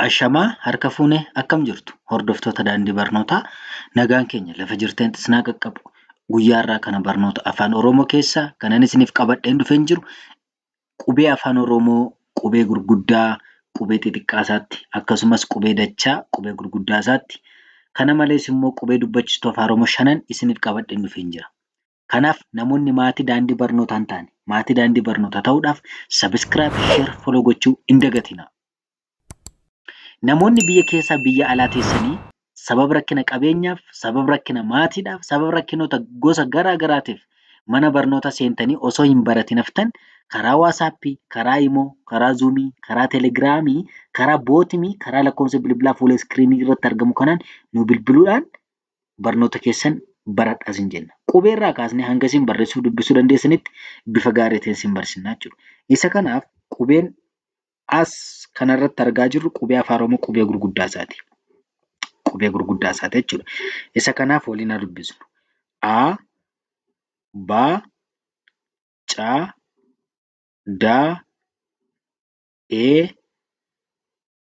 Ashamaa harka fuune akkam jirtu hordoftoota daandii barnootaa nagaan keenya lafa jirteen isinaa qaqqabu guyyaa irraa kana barnoota afaan oromoo keessaa kanan isiniif qabadheen dhufeen jiru qubee afaan oromoo qubee gurguddaa qubee xixiqqaa isaatti akkasumas qubee dachaa qubee gurguddaa isaatti kana malees immoo qubee dubbachistu afaan oromoo shanan isiniif qabadheen dhufeen jira Kanaaf namoonni maatii daandii barnootaa hin taane maatii daandii barnootaa ta'uudhaaf subscribe, share, follow gochuu hin dagatinaa. Namoonni biyya keessaa biyya alaa teessanii sababa rakkina qabeenyaaf, sababa rakkina maatiidhaaf, sababa rakkinoota gosa garaa garaatiif mana barnootaa seentanii osoo hin baratin haftan karaa waasaappii, karaa imoo, karaa zuumii, karaa telegiraamii, karaa bootimii, karaa lakkoofsa bilbilaa fuula iskiriinii irratti argamu kanaan nu bilbiluudhaan barnoota keessan baradhaa sin jenna. Qubee irraa kaasnee hanga isin barreessuu dubbisuu dandeessanitti bifa gaariitiin sin barsiisna jechuudha. Isa kanaaf qubeen as kanarratti argaa jirru qubee afaan Oromoo qubee gurguddaa isaati. Qubee gurguddaa isaati jechuudha. Isa kanaaf waliin haa dubbisnu. A, B, C, D, E,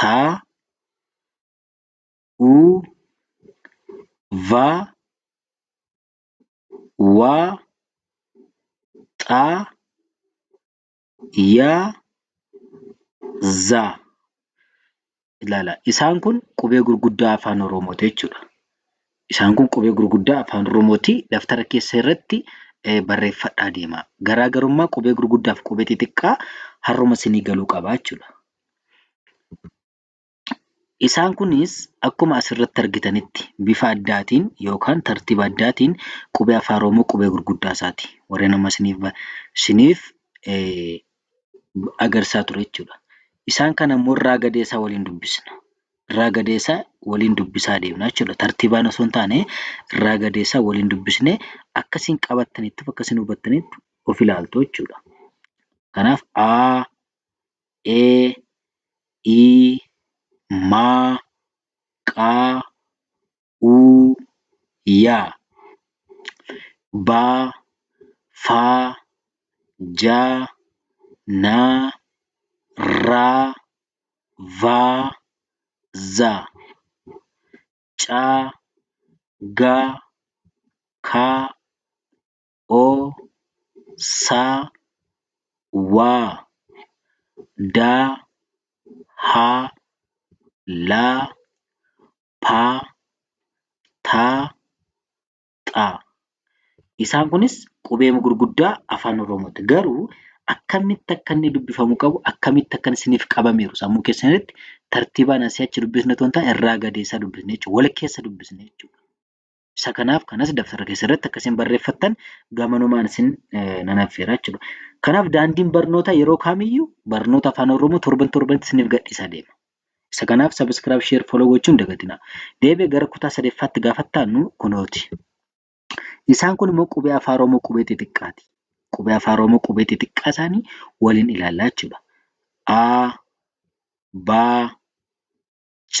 ta u va wa xa ya za ilaala isaan kun qubee gurguddaa afaan oromooti jechuudha isaan kun qubee gurguddaa afaan oromooti daftara keessa irratti barreeffadhaa deema garaagarummaa qubee gurguddaaf qubee xixiqqaa harruma sinii galuu qabaa jechuudha Isaan kunis akkuma asirratti argitanitti bifa addaatiin yookaan tartiiba addaatiin qubee Afaan Oromoo qubee gurguddaa isaati. Warreen amma isiniif agarsiisaa ture jechuudha. Isaan kana immoo irraa gadee isaa waliin dubbisna. Irraa gadee isaa waliin dubbisaa deemna jechuudha. Tartiibaan osoo hin taane irraa gadee isaa waliin dubbisnee akka isin qabattaniif akka isin hubattaniif of ilaaltu jechuudha. Kanaaf A, e i ma qa u ya ba fa ja na ra va za ca ga ka. o sa wa da ha la pa ta xa isaan kunis qubeema gurguddaa afaan oromootti garuu akkamitti akka inni dubbifamu qabu akkamitti akka isiniif qabameeru sammuu keessanitti tartiibaan asii achi dubbisne toontaa irraa gadeessaa dubbisne jechuudha wal keessa dubbisne jechuudha. Isa kanaaf kanas dabtara keessarratti akka isin barreeffattan gamanumaan isin nan affeera jechuudha. Kanaaf daandiin barnoota yeroo kamiyyuu barnoota afaan Oromoo torban torbanitti isiniif gadhiisaa deema. Isa kanaaf sabiskiraayib sheer foloo gochuun dagatinaa. Deebi'ee gara kutaa sadeffaatti gaafattaannu kunooti. Isaan kun immoo qubee afaan Oromoo qubee xixiqqaati. Qubee afaan Oromoo qubee xixiqqaa isaanii waliin ilaallaa jechuudha. A, B, C,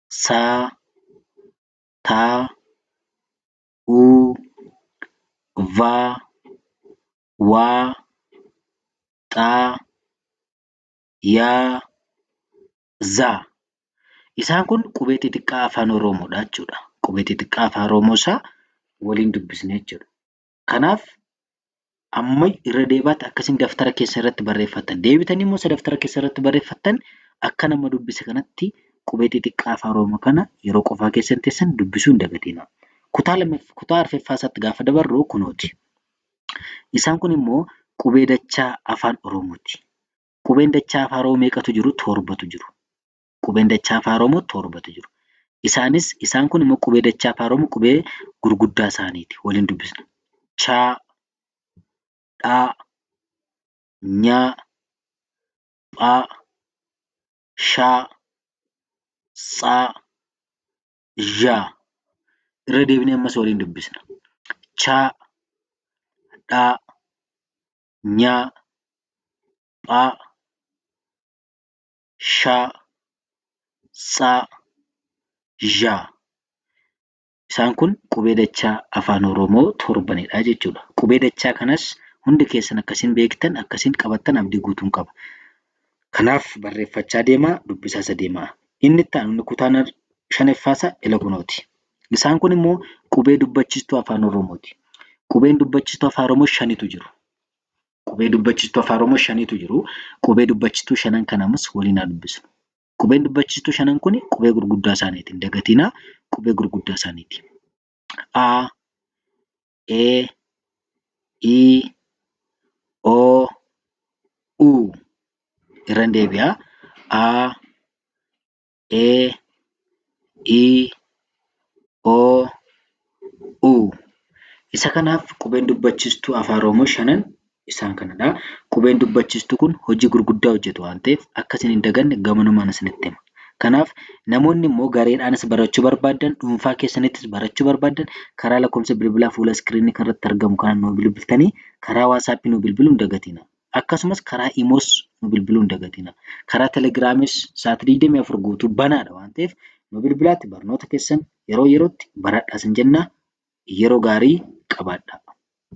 sa ta u va wa xa ya za Isaan kun qubee xixiqqaa afaan Oromoo dha jechuudha. Qubee xixiqqaa afaan Oromoo isaa waliin dubbisne jechuudha. Kanaaf amma irra deebaatti akkasiin daftara keessa irratti barreeffattan. Deebitanii immoo isa daftara keessa irratti barreeffattan akka nama dubbise kanatti qubee xixiqqaa afaan Oromoo kana yeroo qofaa keessan teessan dubbisuu hin dagatina. Kutaa lammaff- kutaa arfaffaa isaatti gaafa dabarru kunooti. Isaan kun immoo qubee dachaa afaan Oromooti. Qubeen dachaa afaan Oromoo meeqatu jiru? Torbatu jiru. qubeen dachaa afaan Oromoo torbatu jiru. Isaanis isaan kun immoo qubee dachaa afaan Oromoo qubee gurguddaa isaaniiti. Waliin dubbisna. Chaa, dhaa, nyaa, phaa, shaa, tsaa, zhaa. Irra deebinee ammas waliin dubbisna. Chaa, dhaa, nyaa, phaa, sha, tsa, zha. Isaan kun qubee dachaa afaan Oromoo torbanidha jechuudha. Qubee dachaa kanas hundi keessan akkasiin beektan akkasiin qabattan abdii guutuun qaba. Kanaaf barreeffachaa deemaa dubbisaasa deemaa. Inni itti aanu inni kutaan shaneffaa ila kunooti. Isaan kun immoo qubee dubbachistuu afaan Oromooti. Qubeen dubbachistuu afaan Oromoo shanitu jiru. Qubee dubbachistuu afaan Oromoo shanitu jiru. Qubee dubbachistuu shanan kanamas waliin haa dubbisnu. Qubeen dubbachistuu shanan kun qubee gurguddaa isaaniiti. Hin dagatinaa qubee gurguddaa isaaniiti. A, E, I, O, U. Irran deebi'a. A, e i o u isa kanaaf qubeen dubbachistuu afaan oromoo shanan isaan kanadha qubeen dubbachistuu kun hojii gurguddaa hojjetu waan ta'eef akka isin hin daganne gamanumaan isinitti hima kanaaf namoonni immoo gareedhaanis barachuu barbaadan dhuunfaa keessanittis barachuu barbaadan karaa lakkoofsa bilbilaa fuula iskiriinii kanarratti argamu kana nu bilbiltanii karaa waasaappii nu bilbiluu hin dagatina. Akkasumas karaa Imoos nu bilbiluu hin dagatinaa. Karaa Telegiraamis sa'aatii 24 guutuu banaadha waan ta'eef nu bilbilaatti barnoota keessan yeroo yerootti baradhaa sin jennaa yeroo gaarii qabaadhaa.